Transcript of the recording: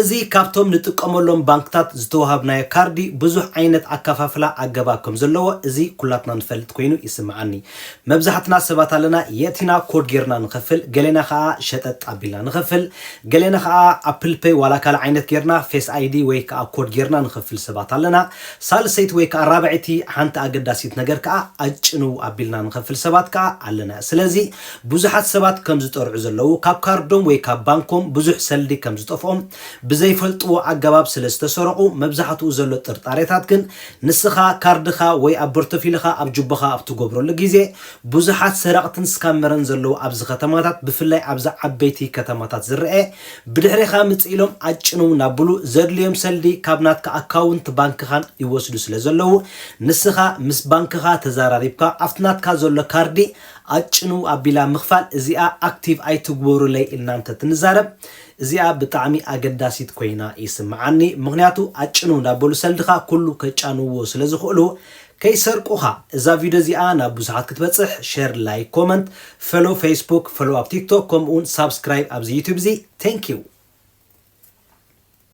እዚ ካብቶም ንጥቀመሎም ባንክታት ዝተወሃብናዮ ካርዲ ብዙሕ ዓይነት ኣከፋፍላ ኣገባብ ከም ዘለዎ እዚ ኩላትና ንፈልጥ ኮይኑ ይስመዓኒ። መብዛሕትና ሰባት ኣለና የእቲና ኮድ ጌርና ንኸፍል፣ ገሌና ከኣ ሸጠጥ ኣቢልና ንኸፍል፣ ገሌና ከኣ ኣፕል ፐይ ዋላ ካልእ ዓይነት ጌርና ፌስ ኣይዲ ወይ ከኣ ኮድ ጌርና ንኸፍል ሰባት ኣለና። ሳልሰይቲ ወይ ከኣ ራብዐይቲ ሓንቲ ኣገዳሲት ነገር ከኣ ኣጭንው ኣቢልና ንኸፍል ሰባት ከኣ ኣለና። ስለዚ ብዙሓት ሰባት ከም ዝጠርዑ ዘለዉ፣ ካብ ካርዶም ወይ ካብ ባንኮም ብዙሕ ሰልዲ ከም ዝጠፍኦም፣ ብዘይፈልጥዎ ኣገባብ ስለ ዝተሰረቑ፣ መብዛሕትኡ ዘሎ ጥርጣሬታት ግን ንስኻ ካርድኻ ወይ ኣብ በርቶፊልኻ ኣብ ጁባኻ ኣብ ትገብረሉ ግዜ ብዙሓት ሰረቕትን ስካመረን ዘለዉ ኣብዚ ከተማታት ብፍላይ ኣብዚ ዓበይቲ ከተማታት ዝረኤ ብድሕሬኻ ምጽእ ኢሎም ኣጭንው ናብሉ ዘድልዮም ሰልዲ ካብ ናትካ ኣካውንት ባንክኻን ይወስዱ ስለ ዘለዉ ንስኻ ምስ ባንክኻ ተዛራሪብካ ኣብቲ ናትካ ዘሎ ካርዲ ኣጭንው ኣቢላ ምክፋል እዚኣ ኣክቲቭ ኣይትግበሩለይ ኢልና እንተትንዛረብ እዚኣ ብጣዕሚ ኣገዳሲት ኮይና ይስምዓኒ ምክንያቱ ኣጭንው እንዳበሉ ሰልድካ ኩሉ ከጫንውዎ ስለ ዝክእሉ ከይሰርቁካ እዛ ቪድዮ እዚኣ ናብ ብዙሓት ክትበጽሕ ሸር ላይክ ኮመንት ፈሎው ፈይስቡክ ፈሎው ኣብ ቲክቶክ ከምኡውን ሳብስክራይብ ኣብዚ ዩቱብ እዚ ቴንኪው።